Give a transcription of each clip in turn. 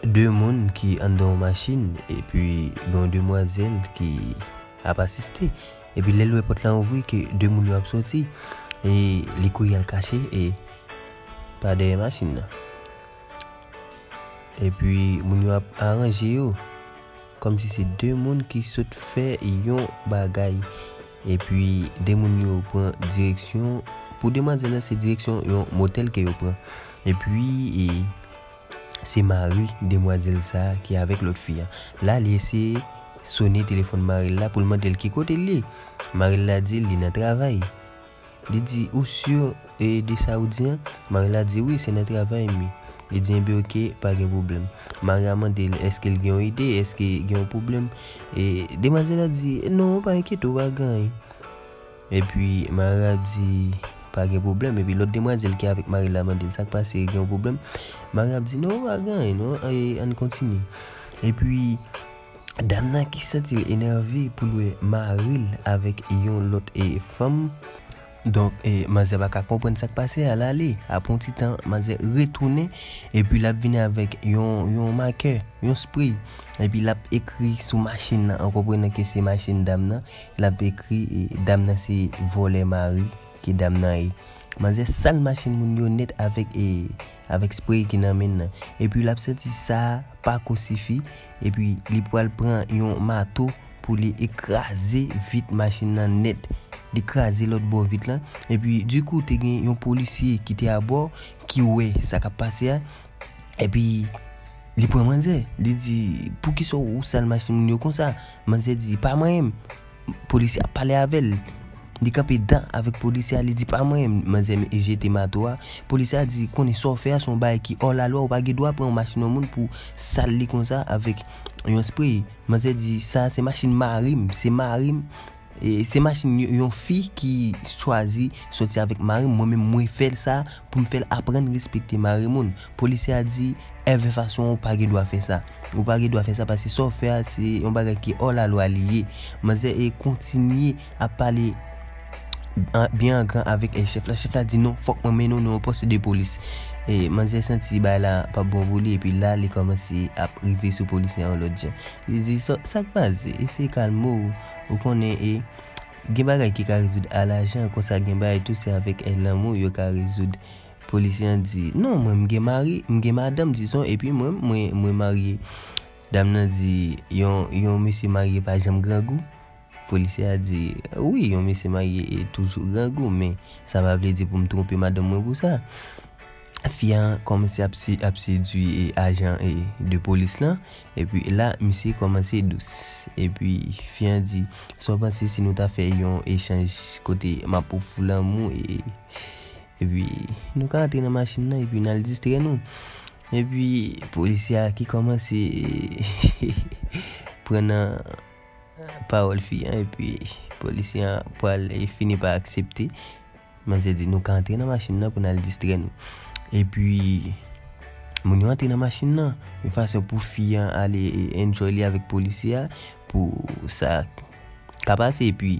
2 moun ki anndan yon machin epi gen yon demwazèl ki ap asiste epi lèl wè pòt lan ouvri ke 2 moun yo ap soti e li kouri al kache e pa dèyè machin nan epi moun yo ap aranje yo kòmsi se 2 moun ki sot fè yon bagay epi 2 moun yo pran direksyon pou demwazèl la se direksyon yon motèl ke yo pran epi e. Se mari demwazel sa ki avek lot fi an. La li eseye sone telefon maril la poul mandel ki kote li. Maril la dil li nan travay. Li di ou sur de sa ou di an? Mari la di wi se nan travay mi. Li di enben ok pa gen pwoblem. Mari a mandel eske l gen yon ide eske gen yon pwoblem. Demwazel la di non pa enkyete ou pa gen anyen. Epi Mara di pa gen pwoblèm epi lòt demwazèl ki avèk Mari la mande l sa k pase gen yon pwoblèm Mari ap di non pa gen anyen non ann kontinye epi dam nan ki santi l enève pou l wè mari l avèk yon lòt fanm donk manzè pa ka konprann sa k pase a l ale apre yon ti tan manzè retounen epi l ap vini avèk yon makè yon spray epi l ap ekri sou machin nan an konprenan ke se machin dam nan Lap ekri dam nan se vòlè mari ke dam nan ye. Manzè sal machin moun yo nèt avèk e avèk spray ki nan menn nan. Epi lap santi sa pako sifi epi li pwal pran yon mato pou li ekraze vit machin nan nèt. Li kraze lòt bò vit lan epi di kou te gen yon polisye ki te abò ki wè sa kap pase a. Epi, li pran manzè. Li di, pou ki sa ou sal machin moun yo konsa? Manzè di, pa mwen menm. Polisye a pale avè l. Li kanpe dan avèk polisye a, li di, pa mwen menm. Manzè jete mato a. Polisye a di, konnen sa w fè a se yon bagay ki ò lalwa, ou pa gen dwa pran machin yon moun pou sal li konsa avèk yon sprey. Manzè di, sa a se machin mari m, se mari m. Se machin yon fi ki chwazi soti avèk mari m, mwen menm mwen fè l sa pou m fè l aprann respekte mari moun. Polisye a di, Ève Fason ou pa gen dwa fè sa. Ou pa gen dwa fè sa paske sa w fè a se yon bagay ki ò lalwa li ye. Manzè kontinye ap pale byen an gran avèk chèf la. Chèf la di, Non, fòk mwen mennen w nan yon pòs de polis. Manzè santi bagay la pa p bon pou li epi la li kòmanse ap rive sou polisye a yon lòt jan. Li di, Sa k pase? Eseye kalme w. Ou konnen e Gen bagay ki ka rezoud a lajan konsa gen bagay tou se avèk è lanmou yo ka rezoud Polisye an di, non mwen m gen mari, m gen madanm dizon epi mwen mwen mwen marye Dam nan di, yon yon mesye marye pa janm grangou? Polisye a di, wi yon mesye marye e toujou grangou men sa pa vle di pou m twonpe madanm mwen pou sa Fi a kòmanse ap se ap sedui e ajan e de polis lan Epi la misye kòmanse dous. Epi fi an di, sa w panse si nou ta fè yon echanj kote m ap ofri w lanmou e epi nou ka antre nan machin nan epi n al distrè nou? Epi polisye a ki kòmanse pran nan pawòl fi an epi polisye an pral fini pa aksepte Mwen se di nou ka antre nan machin nan pou n al distrè nou. Epi moun yo antre nan machin nan. Yon fason pou fi an ale enjoy li avèk polisye a pou sa ka pase. Epi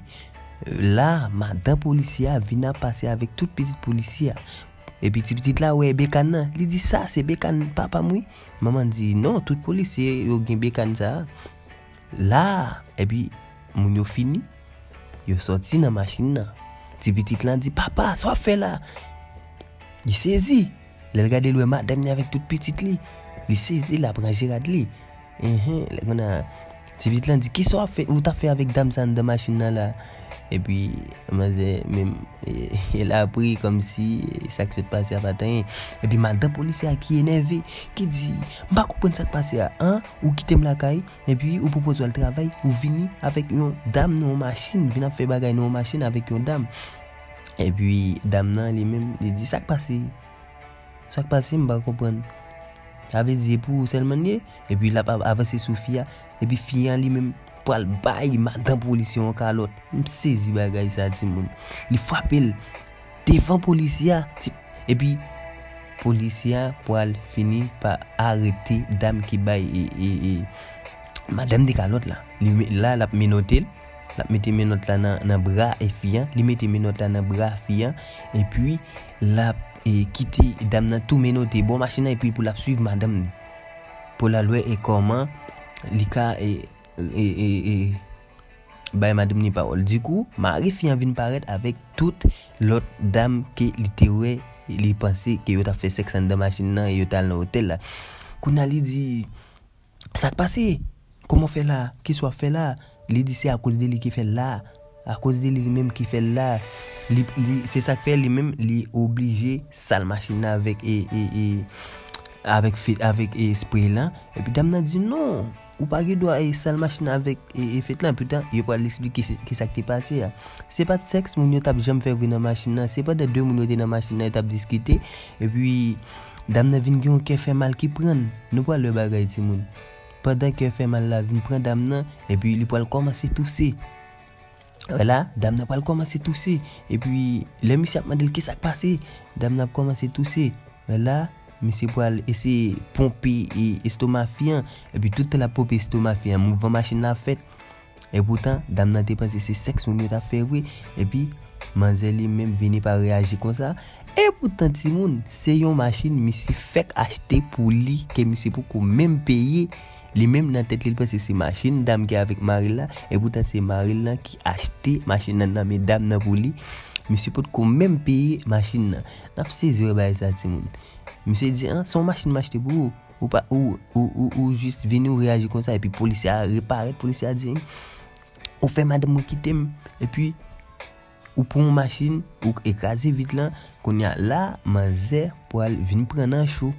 la madan polisye a vin ap pase avèk tout pitit polisye a. Epi ti pitit la wè bekann nan. Li di sa se bekann papa m wi. Manman di non tout polisye yo gen bekann sa a. La epi moun yo fini. Yo sòti nan machin nan. Ti pitit lan di, Papa, sa w ap fè la? Li sezi. Lè l gade l wè madanm ni avèk tout pitit li. Li sezi, l ap ranje rad li. Enhen, lè konsa, ti pitit lan di, Ki sa ou t ap fè avèk dam sa anndan machin nan la? Epi, manzè menm, l ap ri kòmsi sa k sot pase a pa t anyen. Epi, madan polisye a ki enève, ki di, M pa konprann sa k pase a. An? Ou kite m lakay? Epi ou pwopoze al travay, ou vini avèk yon dam nan yon machin, vin ap fè bagay nan yon machin avèk yon dam. Epi dam nan li menm, li di, sa k pase? Sa k pase m pa konprann? Sa vle di e pou ou sèlman l ye? Epi l ap avanse sou fi a, epi fi a li menm pral bay madan polisye yon kalòt. M sezi bagay sa timoun. Li frape l. Devan polisye a ti epi polisye a pwal fini pa arete dam ki bay e madam de kalòt la li met la lap menotel lap mete menòt la nan bra e fi an li mete menòt la nan bra fi an epi lap e kite dam nan tou menote bò machin nan epi pou lap swiv madam li pou lal wè e kòman li ka e e e. Bay madnm ni pawòl di kou mari fi an vin parèt avèk tout lòt dam ke li te wè li panse ke yo tap fè sèks anndan machin nan e yo tal nan otèl la kounye a li di sak pase kòman w fè la kisa wap fè la li di se akoz de li ki fèl la akoz de li li menm ki fèl la li se sak fè li menm li oblije sal machin nan avèk e e e avèk avèk espre lan epi dam nan di non. Ou pa gen dwa sal machin avèk fèt lan. Poutan, yo pral esplike ki sa k te pase a. Se pa t sèks moun yo t ap janm fè vre nan machin lan. Se pandan de moun yo te nan machin lan, yo t ap diskite. Epi, dam nan vin gen yon kè fè mal ki pran l. Nou pral wè bagay timoun. Pandan kè fè mal la vin pran dam nan, epi li pral kòmanse touse. Wè la, dam nan pral kòmanse touse. Epi, lè misye ap mande l kisa k pase, dam nan ap kòmanse touse. Wè la, misye pral eseye ponpe estoma fi an. Epi, tout tan l ap ponpe estoma fi an, mouvman machin nan ap fèt. Epoutan, dam nan te panse se sèks moun yo t ap fè vre. Epi, manzè li menm vini pa reyaji konsa. Epoutan, timoun, se yon machin misye fèk achte pou li ke misye poko menm peye. Li menm nan tèt li l panse se machin dam gen avèk mari l la, epoutan se mari l lan ki achte machin nan nan men dam nan pou li, misye potko menm peye machin nan. N ap sezi wè bagay sa timoun. Misye di, an, se yon machin m achte pou ou, ou pa, ou, ou, ou, ou jis vini ou reyaji konsa epi polisye a reparèt, polisye a di, ou fè madanm mwen kite m, epi. Ou pran yon machin ou k ekraze vit lan kounya la manzè pwal vin pran nan cho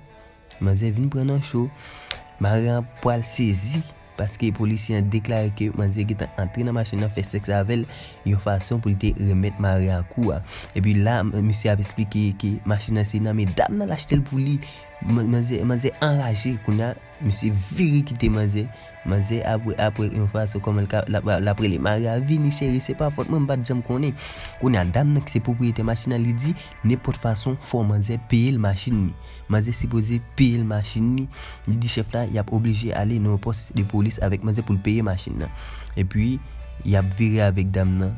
manzè vin pran nan cho mari an pwal sezi paske polisye an deklare ke manzè getan antre nan machin nan fè sèks avèl yon fason pou li te remèt mari an kou a epi la misye ap esplike ke machin nan se nan medam nan l achte l pou li manzè anraje kounya. Misye vire kite manzè. Manzè apre apre yon fason kòman l ka l ap rele mari a, Vini cheri se pa fòt mwen m pa t janm konnen. Kounye a dam nan ki se pwopriyetè machin nan li di nenpòt fason fò manzè peye l machin li. Manzè sipoze peye l machin li, li di chèf la y ap oblije ale nan yon pòs de polis avèk manzè pou l peye machin nan. Epi y ap vire avèk dam nan.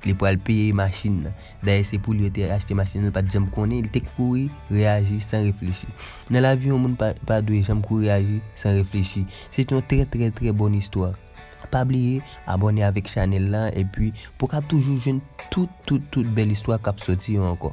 Li pral peye machin nan. Dayè se pou li yo te achte machin nan, li pat janm konnen, li te kouri reyaji san reflechi. Nan lavi yon moun pa dwe janm kouri aji san reflechi. Se te yon trè trè trè bon istwa. Pa bliye abòne avèk chanèl la epi pou w ka toujou jwenn tout tout tout bèl istwa kap soti yo ankò.